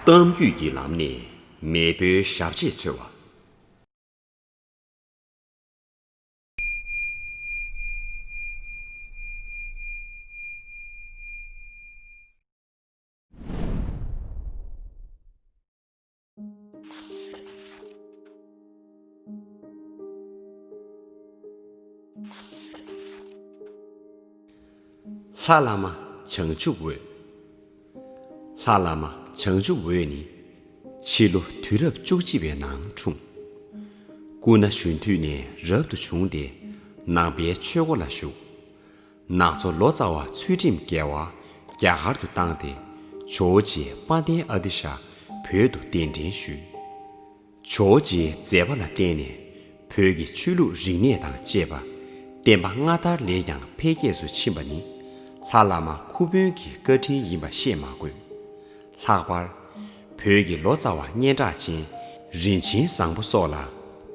གཏམ་རྒྱུད་ཀྱི་ལམ་ནས་མེས་པོའི་ཞབས་རྗེས་འཚོལ་བ། ལྷ་བླ་མ་བྱང་ཆུབ་འོད། ལྷ་བླ་མ་བྱང་ཆུབ་འོད་ནི། ཕྱི་ལོ་དུས་རབས་བཅུ་གཅིག་པའི་ནང་འཁྲུངས། སྐུ་ན་གཞོན་དུས་ནས་རབ་ཏུ་བྱུང་སྟེ་ནང་པའི་ཆོས་སྒོ་ལ་ཞུགས། ནག་ཚོ་ལོ་ཙཱ་བ་ཚུལ་ཁྲིམས་རྒྱལ་བ་རྒྱ་གར་དུ་བཏང་སྟེ་ཇོ་བོ་རྗེས་དཔའ་ལྡན་ཨ་ཏི་ཤ་བོད་དུ་གདན་འདྲེན་ཞུས། ཇོ་བོ་རྗེའི་མཛད་པ་ལ་བརྟེན་ནས་བོད་ཀྱི་ཆོས་ལུགས་རིག་གནས་དང་བཅས་པ་བསྟན་པ་སྔ་དར་ལས་ཀྱང་འཕེལ་རྒྱས་སུ་ཕྱིན་པ་ནི་ལྷ་བླ་མ་ཁུ་དཔོན་གྱི་བཀའ་དྲིན་ཡིན་པ་བཤད་མ་དགོས། ལྷག་པར། བོད་ཀྱི་ལོ་ཙཱ་བ་སྙན་གྲགས་ཅན་རིན་ཆེན་བཟང་པོ་སོགས་ལ་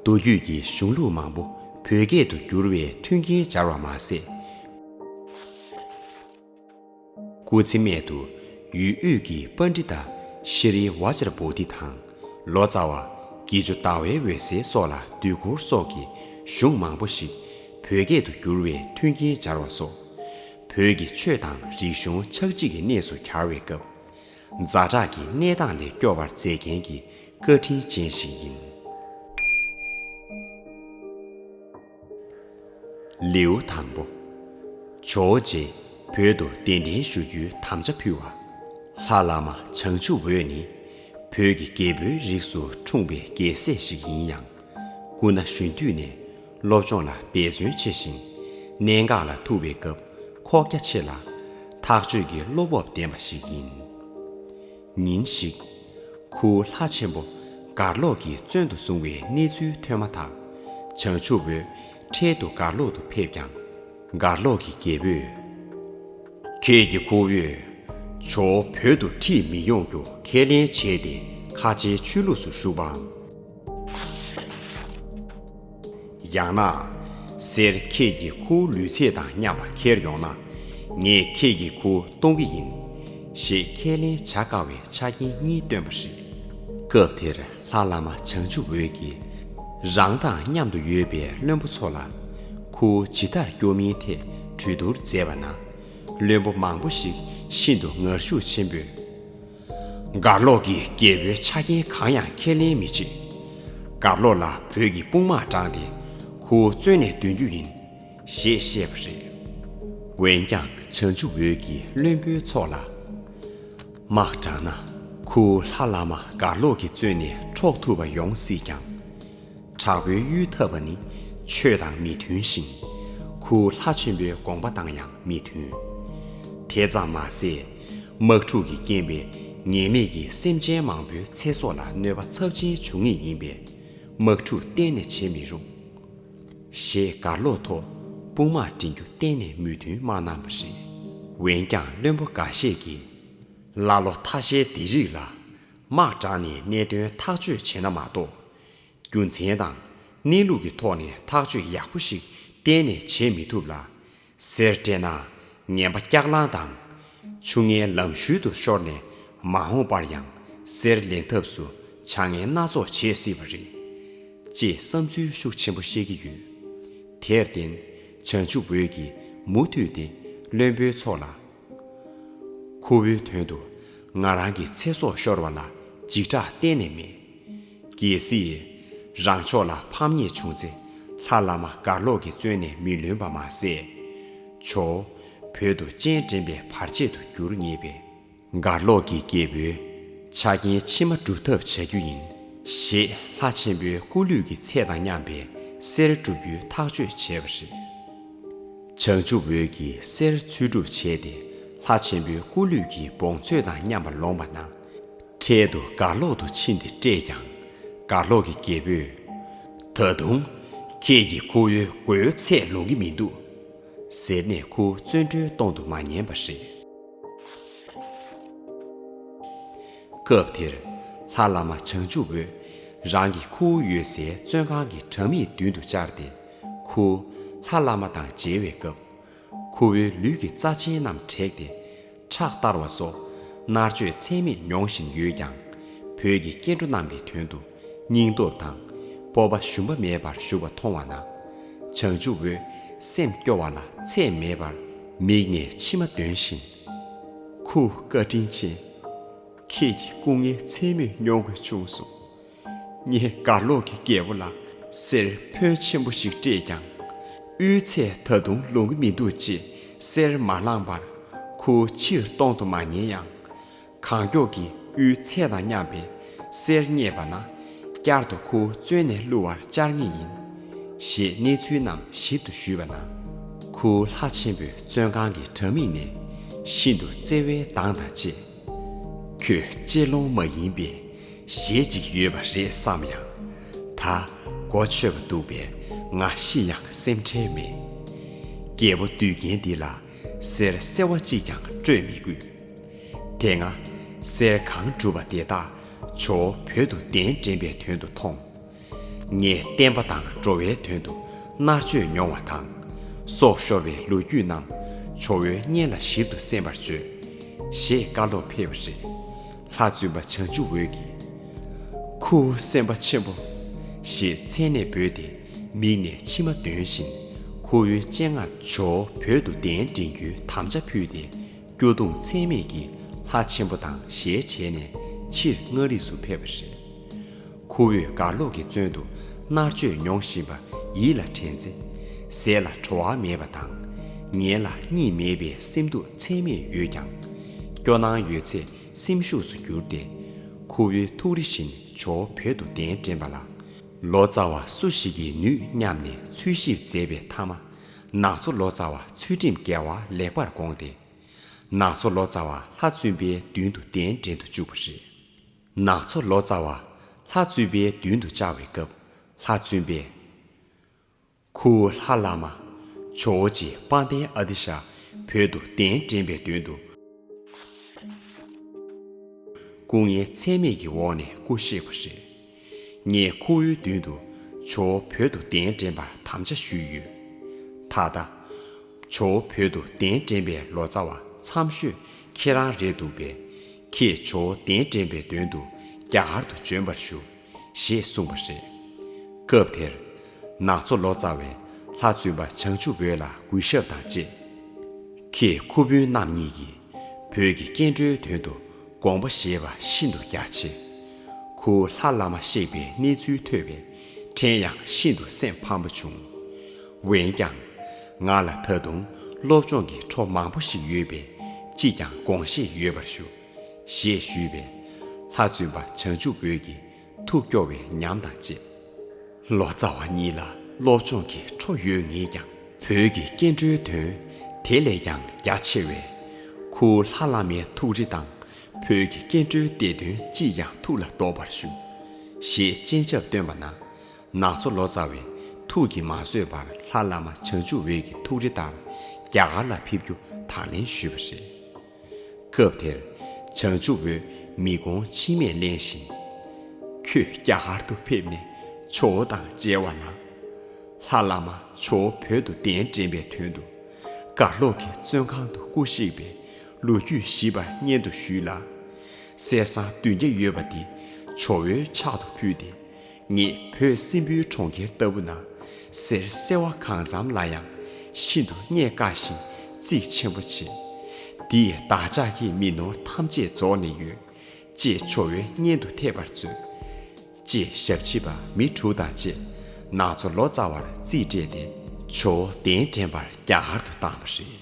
མདོ་རྒྱུད་ཀྱི་གཞུང་ལུགས་མང་པོ་བོད་སྐད་དུ་བསྒྱུར་བའི་མཐུན་རྐྱེན་སྦྱར་བ་མ་ཟད། སྐུ་ཚེ་སྨད་དུ་ཡུལ་དབུས་ཀྱི་པཱ་ཎྜི་ཏཱ་ཤྲི་རི་ཝཱ་ཅར་པོ་ཏི་དང་ལོ་ཙཱ་བ་དགེ་བཅུ་ཟླ་བའི་འོད་ཟེར་སོགས་ལ་དུས་འཁོར་སོགས་ཀྱི་གཞུང་མང་པོ་ཞིག་བོད་སྐད་དུ་བསྒྱུར་བའི་མཐུན་རྐྱེན་སྦྱར་བ་སོགས། བོད་ཀྱི་ཆོས་དང་རིག་གཞུང་ཆགས་འཇིག་གི་གནས་སུ་གྱར་བའི་སྐབས། རྫ་བྲག་གི་གནས་སྟངས་ལས་སྐྱོ་བར་མཛད་མཁན་གྱི་བཀའ་དྲིན་ཅན་ཞིག་ཡིན། ལེའུ་དང་པོ། ཇོ་བོ་རྗེས་བོད་དུ་གདན་འདྲེན་ཞུ་རྒྱུའི་དམ་བཅའ་ཕུལ་བ། ལྷ་བླ་མ་བྱང་ཆུབ་འོད་ནི་བོད་ཀྱི་རྒྱལ་པོའི་རིགས་སུ་འཁྲུངས་པའི་རྒྱལ་སྲས་ཤིག་ཡིན་ཡང། སྐུ་ན་གཞོན་དུས་ནས་སློབ་སྦྱོང་ལ་འབད་བརྩོན་ཆེ་ཞིང། གནད་འགག་ལ་ཐུག་པའི་སྐབས་ཁོག་རྒྱ་ཆེ་ལ། ཐག་གཅོད་ཀྱི་བློ་སྤོབས་ལྡན་པ་ཞིག་ཡིན། ཉིན་ཞིག། གུ་ལྷ་ཆེན་པོ་གར་ལོག་གིས་བཙོན་དུ་བཟུང་བའི་གནས་ཚུལ་ཐོས་མ་ཐག་བྱང་ཆུབ་འོད་འཕྲལ་དུ་གར་ལོག་ཏུ་ཕེབས་ཀྱང། གར་ལོག་གི་རྒྱལ་པོས། ཁྱེད་ཀྱི་ཁོ་བོས་ཇོ་བོ་བོད་དུ་ཁྲིད་མི་ཡོང་རྒྱུ་ཁས་ལེན་བྱས་ཏེ་ཁ་ཆེའི་ཆོས་ལུགས་སུ་ཞུགས་པའམ། ཡང་ན། སེར་ཁྱེད་ཀྱི་ཁུ་བོ་ལུས་ཚད་དང་མཉམ་པ་འཁྱེར་ཡོང་ན། ངས་ཁྱེད་ཀྱི་ཁུ་བོ་གཏོང་གི་ཡིན། ཞེས་ཁས་ལེན་བྱ་དཀའ་བའི་ཆ་རྐྱེན་གཉིས་བཏོན་པ་རེད། སྐབས་དེར་ལྷ་བླ་མ་བྱང་ཆུབ་འོད་ཀྱིས། རང་དང་མཉམ་དུ་ཡོད་པའི་བློན་པོ་ཚོ་ལ། ཁུ་བོ་ཇི་ལྟར་སྐྱོབ་མིན་ཐད་གྲོས་བསྡུར་མཛད་པ་ན། བློན་པོ་མང་པོ་ཞིག་ཤིན་ཏུ་ངར་ཤུགས་ཆེན་པོས། དགའ་ལོག་གི་རྒྱལ་པོའི་ཆ་རྐྱེན་གང་ཡང་ཁས་ལེན་མི་བྱེད། དགའ་ལོག་ལ་བོད་ཀྱི་དཔུང་དམག་དྲངས་ཏེ་ཁུ་བོ་བཙོན་ནས་འདོན་རྒྱུ་ཡིན། ཞེས་བཤད་པ་རེད། འོན་ཀྱང་བྱང་ཆུབ་འོད་ཀྱི་བློན་པོའི་ཚོགས་ལ། དམག་དྲངས་ན་ཁུ་བོ་ལྷ་བླ་མ་དགའ་ལོག་གི་བཙོན་ནས་འཕྲོག་ཐུབ་པ་ཡོང་སྲིད་ཀྱང། དྲག་པོའི་གཡུལ་འཐབ་པ་ནི་ཆོས་དང་མི་མཐུན་ཞིང། གུ་ལྷ་ཆེན་པོའི་དགོངས་པ་དང་ཡང་མི་མཐུན། དེ་ཙམ་མ་ཟད། དམག་འཁྲུག་གི་རྐྱེན་པས་ངེས་མེད་ཀྱི་སེམས་ཅན་མང་པོའི་ཚེ་སྲོག་ལ་གནོད་པ་ཚབས་ཆེན་འབྱུང་ངེས་ཡིན་པས་དམག་འཁྲུག་གཏན་ནས་བྱེད་མི་རུང། ཞེས་མགར་ལོ་ཐོ་དཔུང་དམག་འདྲེན་རྒྱུ་གཏན་ནས་མོས་མཐུན་མ་གནང་བ་རེད། འོན་ཀྱང་བློན་པོ་འགའ་ཤས་ཀྱིས། ཀླ་ཀློ་ཐ་ཤལ་འདི་རིགས་ལ། དམག་དྲངས་ནས་གནད་དོན་ཐག་གཅོད་བྱས་ན་མ་གཏོགས། རྒྱུ་མཚན་དང། གནས་ལུགས་ཀྱི་ཐོག་ནས་ཐག་གཅོད་ཡག་པོ་ཞིག་གཏན་ནས་བྱེད་མི་ཐུབ་ལ། ཟེར་སྤྲད་ན། ངན་པ་སྐྱག་ལངས་དང། ཆུ་ངན་ལམ་ཤུལ་དུ་ཤོར་ནས་མ་འོངས་པར་ཡང་གསེར་ལེན་ཐབས་སུ་བྱ་ངན་སྣ་ཚོགས་བྱེད་སྲིད་པ་རེད། ཅེས་བསམ་ཚུལ་ཤུགས་ཆེན་པོ་བཤད་ཀྱི་ཡོད། དེར་བརྟེན། བྱང་ཆུབ་འོད་ཀྱིས་མུ་མཐུད་དེ་བློན་པོའི་ཚོགས་ལ། ཁོ་བོའི་དོན་དུ་ང་རང་གི་ཚེ་སྲོག་ཤོར་བ་ལ་འཇིགས་སྐྲག་གཏན་ནས་མེད། གལ་སྲིད། རང་ཕྱོགས་ལ་ཕམ་ཉེས་བྱུང་ཚེ་ལྷ་བླ་མ་གར་ལོག་གིས་བཙོན་ནས་མི་ལོན་པ་མ་ཟད། བྱོ། བོད་དུ་སྤྱན་འདྲེན་པའི་བར་ཆད་དུ་འགྱུར་ངེས་པས། གར་ལོག་གི་སྐྱེ་བོའི་ཆ་རྐྱེན་ཕྱི་མ་སྒྲུབ་ཐབས་བྱ་རྒྱུ་ཡིན། ཞེས་ལྷ་ཆེན་པོའི་སྐུ་ལུས་ཀྱི་ཚད་དང་མཉམ་པའི་གསེར་བསྒྲུབ་རྒྱུའི་ཐག་གཅོད་བྱས་པ་རེད། བྱང་ཆུབ་འོད་ཀྱི་གསེར་ཚུལ་སྒྲུབ་བྱས་ཏེ་ལྷ་ཆེན་པོའི་སྐུ་ལུས་ཀྱི་བོངས་ཚོད་དང་མཉམ་པར་ལོངས་པ་ན། འཕྲལ་དུ་དགའ་ལོག་ཏུ་ཕྱིན་ཏེ་བཀྲེས་ཀྱང། དགའ་ལོག་གི་རྒྱལ་པོས། ད་དུང། ཁྱེད་ཀྱི་ཁོ་བོའི་སྒོའི་ཚད་ལོང་གི་མི་འདུག། ཟེར་ནས་ཁོ་བོ་བཙོན་གྲོལ་གཏོང་དུ་མ་ཉན་པ་རེད། སྐབས་དེར། ལྷ་བླ་མ་བྱང་ཆུབ་འོད་རང་གིས་ཁོ་བོ་ཡོད་སའི་བཙོན་ཁང་གི་གྲམ་མེའི་མདུན་དུ་བཅར་ཏེ། ཁུ། ལྷ་བླ་མ་དང་མཇལ་བའི་སྐབས། ཁུ་བོའི་ལུས་ཀྱི་རྩ་ཆེན་རྣམས་བྲེགས་ཏེ། ཁྲག་བསྟར་བ་སོགས། མནར་གཅོད་ཚད་མེད་མྱོང་བཞིན་ཡོད་ཀྱང། བོད་ཀྱི་སྐྱེ་འགྲོ་རྣམས་ཀྱི་དོན་དུ་སྙིང་སྟོབས་དང། སྤོབས་པ་ཞུམ་པ་མེད་པར་ཞུ་བ་མཐོང་བ་ན། བྱང་ཆུབ་འོད་སེམས་སྐྱོ་བ་ལ་ཚད་མེད་པར། མིག་ནས་མཆི་མ་འདོན་བཞིན། ཁུ། བཀའ་དྲིན་ཆེ། ཁྱེད་ཀྱི་སྐུ་ངལ་ཚད་མེད་མྱོང་དགོས་བྱུང་སོང། ངས་སྒར་ལོག་གི་རྒྱལ་པོ་ལ་གསེར་ཕོན་ཆེན་པོ་ཞིག་སྤྲད་ཀྱང། དབུལ་ཚད་ད་དུང་ལོང་གི་མི་འདུག་ཅེས་གསེར་མ་བླངས་པར་ཁུར་ཕྱིར་གཏོང་དུ་མ་ཉེ་ཡང། གང་མགྱོགས་ཀྱིས་དབུལ་ཚད་དང་མཉམ་པའི་གསེར་རྙེད་པ་ན། བསྐྱར་དུ་ཁུར་བཙོན་ནས་བསླུ་བར་བཅར་ངེས་ཡིན། ཞེས་གནས་ཚུལ་རྣམས་ཞིབ་ཏུ་ཞུས་པ་ན། ཁུར་ལྷ་ཆེན་པོས་བཙོན་ཁང་གི་དྲ་མིག་ནས་ཤིན་ཏུ་བརྩེ་བའི་མདངས་དང་བཅས། ཁྱོད་གཅེས་ལོང་མ་ཡིན་པའི་གཞས་ཅིག་ཡོད་པ་རེད་བསམ་ཡང། ད་གོ་ཆོད་པ་འདུག་པས་ང་ཤི་ཡང་སེམས་ཁྲལ་མེད། སྐྱེ་བོ་དུས་རྒན་འདི་ལ་གསེར་གསལ་བ་གཅིག་ཀྱང་སྤྲོད་མི་དགོས། དེ་སྔ་གསེར་གང་གྲུབ་པ་དེ་དག་ཇོ་བོ་བོད་དུ་གདན་འདྲེན་པའི་དོན་དུ་ཐོངས། ངས་བསྟན་པ་དང་འགྲོ་བའི་དོན་དུ་མནར་གཅོད་མྱོང་བ་དང། སྲོག་ཤོར་བའི་ལོ་རྒྱུས་རྣམས་ཇོ་བོའི་སྙན་ལ་ཞིབ་ཏུ་གསན་པར་བརྗོད། ཞེས་བཀའ་སློབ་ཕེབས་པ་རེད། ལྷ་བཙུན་པ་བྱང་ཆུབ་འོད་ཀྱིས། ཁུ་བོ་སེམས་དཔའ་ཆེན་པོ། ཞེས་མཚན་ནས་འབོད་དེ་མིག་ནས་མཆི་མ་འདོན་བཞིན་ཁུ་བོའི་སྤྱན་སྔར་ཇོ་བོད་དུ་གདན་འདྲེན་རྒྱུའི་དམ་བཅའ་ཕུལ་ཏེ་སྐྱོ་གདུང་ཚད་མེད་ཀྱིས་ལྷ་ཆེན་པོ་དང་ཞལ་བྱས་ནས་ཕྱིར་མངའ་རིས་སུ་ཕེབས་པ་རེད། ཁོ་བོས་དགའ་ཀློག་གི་བཙོན་དུ་མནར་གཅོད་མྱོང་བཞིན་པ་ཡིད་ལ་དྲན་ཚེ། ཟས་ལ་བྲོ་བ་མེད་པ་དང། ཉལ་ལ་གཉིད་མེད་པའི་སེམས་སྡུག་ཚད་མེད་ཡོད་ཀྱང། སྐྱོ་སྣང་ཡོད་ཚད་སེམས་ཤུགས་སུ་བསྒྱུར་ཏེ། ཁོ་བོའི་ཐུགས་རེ་བཞིན་ཇོ་བོད་དུ་གདན་འདྲེན་པ་ལ། ལོ་ཙཱ་བ་སུ་ཞིག་གིས་ནུས་སྙམ་ནས་འཚོལ་ཞིབ་མཛད་པའི་མཐའ་མ། ནག་ཚོ་ལོ་ཙཱ་བ་ཚུལ་ཁྲིམས་རྒྱལ་བ་ལེགས་པར་དགོངས་ཏེ། ནག་ཚོ་ལོ་ཙཱ་བ་ལྷ་བཙུན་པའི་མདུན་དུ་གདན་འདྲེན་དུ་བཅུག་པ་རེད། ནགས་མཚོ་ལོ་ཙཱ་བ། ལྷ་བཙུན་པའི་མདུན་དུ་བཅར་བའི་སྐབས་ལྷ་བཙུན་པས། ཁུ་བོ་ལྷ་བླ་མ། ཇོ་བོ་རྗེ་དཔའ་ལྡན་ཨ་ཏི་ཤ་བོད་དུ་གདན་འདྲེན་པའི་མདུན་དུ། སྐུ་ངལ་ཚད་མེད་ཀྱི་འོག་ནས་སྐུ་གཤེགས་པ་རེད། ངས་ཁུ་བོའི་མདུན་དུ་ཇོ་བོ་བོད་དུ་གདན་འདྲེན་པར་དམ་བཅའ་ཞུས་ཡོད། ད་ལྟ། ཇོ་བོ་བོད་དུ་གདན་འདྲེན་པའི་ལོ་ཙཱ་བ་མཚམས་ཤོས་ཁྱེད་རང་རེད་འདུག་པས། ཁྱེད་ཇོ་བོ་གདན་འདྲེན་པའི་དོན་དུ་རྒྱ་གར་དུ་བྱོན་པར་ཞུ། ཞེས་གསུངས་པ་རེད། སྐབས་དེར། ནག་ཚོ་ལོ་ཙཱ་བས་ལྷ་བཙུན་པ་བྱང་ཆུབ་འོད་ལ་གུས་ཞབས་དང་བཅས། ཁྱེད་ཁུ་དཔོན་རྣམ་གཉིས་ཀྱིས་བོད་ཀྱི་སྐྱེ་འགྲོའི་དོན་དུ་དགོངས་པ་བཞེས་པ་ཤིན་ཏུ་རྒྱ་ཆེ། ཁུ་བོ་ལྷ་བླ་མ་གཤེགས་པའི་གནས་ཚུལ་ཐོས་པས། དྲན་ཡང་ཤིན་ཏུ་སེམས་ཕམ་པོ་བྱུང། འོན་ཀྱང། ང་ལ་ད་དུང་སློབ་སྦྱོང་གི་འཕྲོ་མང་པོ་ཞིག་ཡོད་པས་ཅིས་ཀྱང་དགོངས་བཞེས་ཡོད་པར་ཞུ། ཞེས་ཞུས་པས། ལྷ་བཙུན་པ་བྱང་ཆུབ་འོད་ཀྱིས་ཐུགས་སྐྱོ་བའི་ཉམས་དང་བཅས། ལོ་ཙཱ་བ་གཉིས་ལ་སློབ་སྦྱོང་གི་འཕྲོ་ཡོད་ངེས་ཀྱང། བོད་ཀྱི་སྐྱེ་འགྲོའི་དོན་དེ་ལས་ཀྱང་རྒྱ་ཆེ་བས། ཁུ་བོ་ལྷ་བླ་མའི་ཐུགས་རེ་དང་བོད་ཀྱི་སྐྱེ་འགྲོའི་བདེ་དོན་ཅིས་ཀྱང་ཐུགས་ལ་འདོགས་པར་ཞུ། ཞེས་སྤྱན་ཆབ་བཏོན་པ་ན། ནག་མཚོ་ལོ་ཙཱ་བས་ཐུགས་ཀྱིས་མ་བཟོད་པར་ལྷ་བླ་མ་བྱང་ཆུབ་འོད་ཀྱི་ཐུགས་རེ་ལྟར་རྒྱ་གར་ལ་ཕེབས་རྒྱུ་དང་ལེན་ཞུས་པ་རེད། སྐབས་དེར་བྱང་ཆུབ་འོད་མི་དགོངས་མཆི་མས་བརླན་བཞིན། ཁྱོད་རྒྱ་གར་དུ་ཕེབས་ནས་ཇོ་བོ་དང་མཇལ་བ་ན། ལྷ་བླ་མ་ཇོ་བོ་བོད་དུ་གདན་འདྲེན་པའི་དོན་དུ། གར་ལོག་གི་བཙོན་ཁང་དུ་སྐུ་གཤེགས་པའི་ལོ་རྒྱུས་ཞིབ་པར་སྙན་དུ་ཞུས་ལ། གསེར་སྲང་བདུན་བརྒྱ་ཡོད་པ་དེ་ཇོ་བོའི་ཕྱག་ཏུ་ཕུལ་ཏེ། ངས་བོད་སྲིན་པོའི་གྲོང་ཁྱེར་ལྟ་བུ་ན་གསེར་གསལ་བ་གང་འཚམ་ལ་ཡང་ཤིན་ཏུ་རྙེད་དཀའ་ཞིང་གཙིགས་ཆེན་པོ་བྱེད། འདིས་བདག་ཅག་གི་མི་ནོར་ཐམས་ཅད་རྫོགས་ནས་ཡོད། ཅེས་ཇོ་བོའི་སྙན་དུ་ཐེབས་པར་མཛོད། ཅེས་ཞབས་ཕྱི་པ་མི་དྲུག་དང་བཅས་ནག་ཚོ་ལོ་ཙཱ་བར་རྩིས་སྤྲད་དེ། ཇོ་བོ་གདན་འདྲེན་པར་རྒྱ་གར་དུ་བཏང་བ་རེད།